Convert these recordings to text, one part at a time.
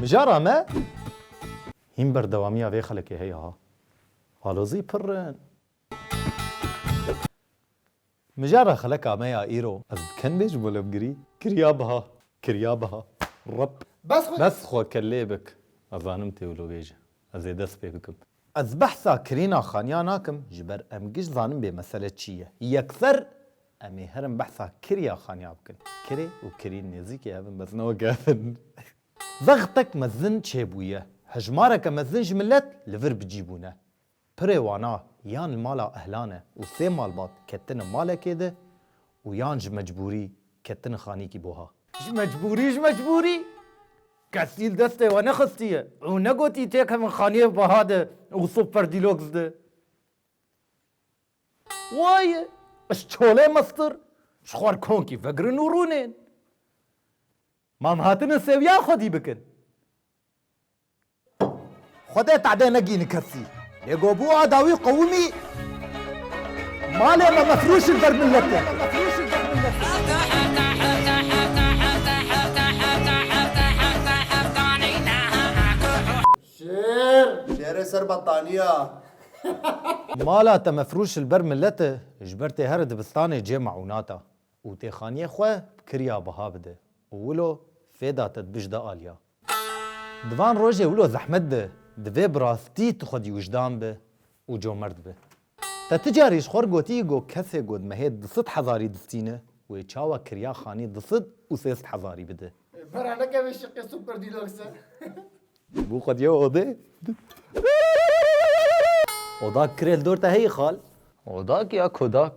Mijara me hîn berdewamiya vê xelekê heye ha. Alozî pir in. Mijara xeleka me ya îro ez bi ken bê ji bo levgirî. Kirya biha. Kirya biha. Rep. Bes xwe. Bes xwe kellê bik. Ez zanim têwilogêj e. Ez ê dest pê bikim. Ez behsa kirîna xaniya nakim ji ber em giş zanin bê mesele çi ye. Yekser em ê herin behsa kiriya xaniya bikin. Kirê û kirîn nêzîkê hev in bes ne weke hev in. Zextek mezin çêbûye. Hejmareke mezin ji milet li vir bicî bûne. Pirê wan a yan li mala ehlan e û sê malbat ketine malekê di û yan ji mecbûrî ketine xanîkî bo ha. Ji mecbûrî ji mecbûrî! Kesîl destê we nexistiye û negotî têkevin xaniyê weha de û super deluxe de. Waye, ji çolê mestir, ji xwar konkî vegirin û rûnên. Mam hatine sewiya xwedî bikin. Xwedê tadê negîni kesî. Lê go bû a dawî qewimî. Malê me mefrûşin ber miletê. Şêr. Şêrê ser bettaniya. Mala te mefrûşil ber milete ji ber tê here dibistanê cê meûnata û tê xaniyê xwe bi kirya biha bide û wilo fêda te dibijde aliya. Di van rojê wilo zehmet bi, divê bi rastî tu xwedî wijdan bi û comert bi. Te ti carî ji xwe re gotî go kesê ku di mehê du sed hezarî distîne, wê çawa kirya xanî du sed û sê sed hezarî bide? Vera nekeve şiqê Super Deluxe. Bû xwedî ew odê? Odak kirê li dor te heyî xal. Odak ya kodak.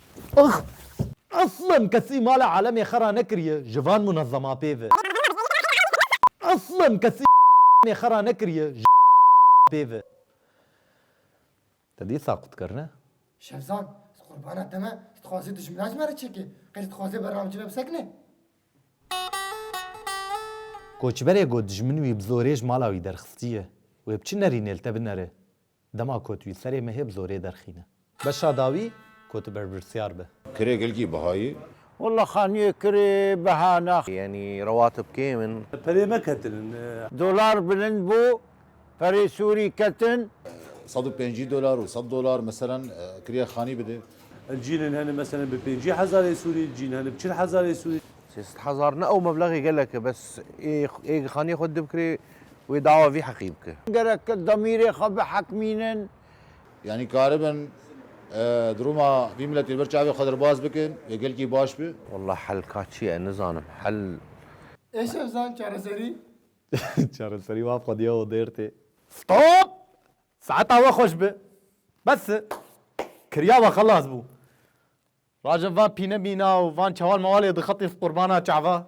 Ax! Eslan kesî mala alemê xwe ranekiriye ji van munezeman pê ve. Eslan kesî alemê xwe ranekiriye ji pê ve. Te dît saqût kir ne? Şevzad, ez qurbana te me, tu dixwazî dijmina ji me re çêkê, qey tu dixwazê berra min cive bisekine? Koçberê got dijmin wî bi zorê ji mala wî derxistiye. Wê bi çi nerînê li te binere? Dema ku tu yî serê me hê bi zorê derxîne. Beşa dawî ku tu berpirsyar be. Kirê gelkî Bihayî. Walla xaniyê kirê Bihana. Yanî rewatib kêm in. Perê me ketin in. Dolar bilind bû, perê sûrî ketin. Sed û pêncî dolar û sed dolar meselen kirê xanî bide. Cîn in hene meselen bi pêncî hezarê sûrî, cîn hene bi çil hezarê sûrî. Sê sed hezar ne ew meblexê gelek e bes ê xaniyê xwe dide bi kirê Wê dawa vî heqî bike. Gerek e demîrê xwe bihekmînin. Yanî karibin dirûma vî miletê li ber çavê xwe derbas bikin wê gelkî baş bi. Wallah hel ka çi ye nizanim hel. Ê Şevzan çareserî. Çareserî maf xwediya odêr tê. Stop! Saeta we xweş bi. Bes e. Kiriya we xelas bû. Rajev van pîne mîna û van çewal mewalê dixetin qurbana çava.